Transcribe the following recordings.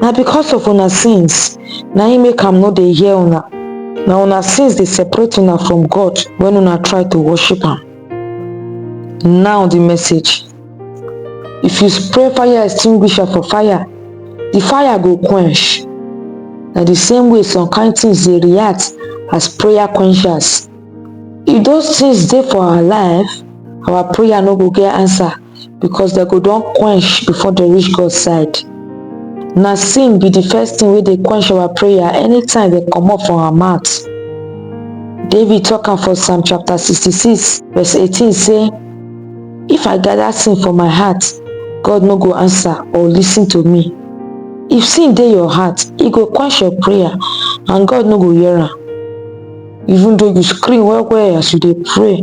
na because of una sins na im make am no dey hear una na una sins dey separate una from god when una try to worship am now the message if you spray fire extinguisher for fire the fire go quench na the same way some kind things dey react as prayer quenchers if those things dey for our life our prayer no go get answer because dem go don quench before dem reach God side. Na sin be the first thing wey dey quench our prayer anytime dem comot from our mouth. David talk am for Psalm chapter 66 verse 18 say, If I gather sin for my heart, God no go answer or listen to me. If sin dey your heart, e go quench your prayer and God no go hear am. Even though you scream well well as you dey pray,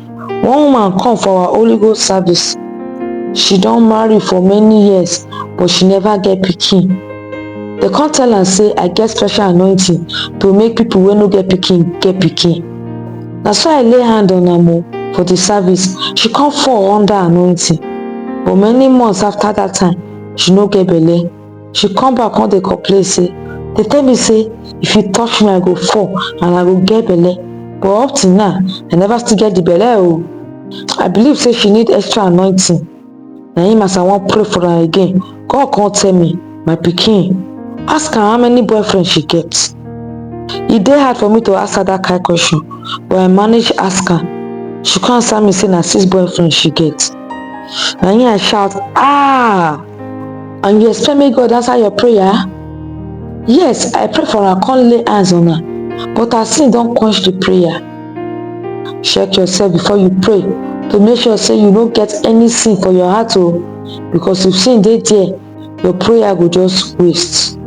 One woman come for our Holy Ghost service. She don marry for many years but she never get pikin. They come tell am say I get special anointing to make people wey no get pikin get pikin. Na so I lay hand on am o for the service. She come fall under anointing but many months after that time, she no get belle. she come back come dey complain say dey tell me say if you touch me i go fall and i go get belle but up till now i never still get the belle o i believe say she need extra anointing na him as i wan pray for am again god come tell me my pikin ask am how many boyfriend she get e dey hard for me to ask her that kind question but i manage ask am she come answer me say na six boyfriend she get na him i shout ah and you expect make God answer your prayer? Yes, I pray for una come lay hands on her, but her sin don quench the prayer. Check yourself before you pray to make sure say you no get any sin for your heart o, oh, because if sin dey there, your prayer go just waste.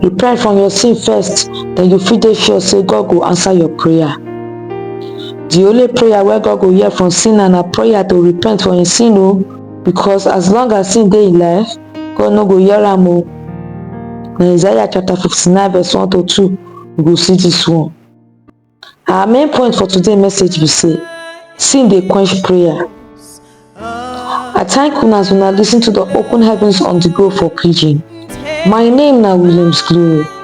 Repent from your sin first, then you fit dey sure say God go answer your prayer. The only prayer wey God go hear from sinner na prayer to repent for im sin o. Oh. because as long as he dey alive god no go hear am o na isaiah chapter 59 verse 1 to 2 we go see this one our main point for today message be say sin dey quench prayer i thank una as una listen to the open heavens on the go for pidgin my name na williams glory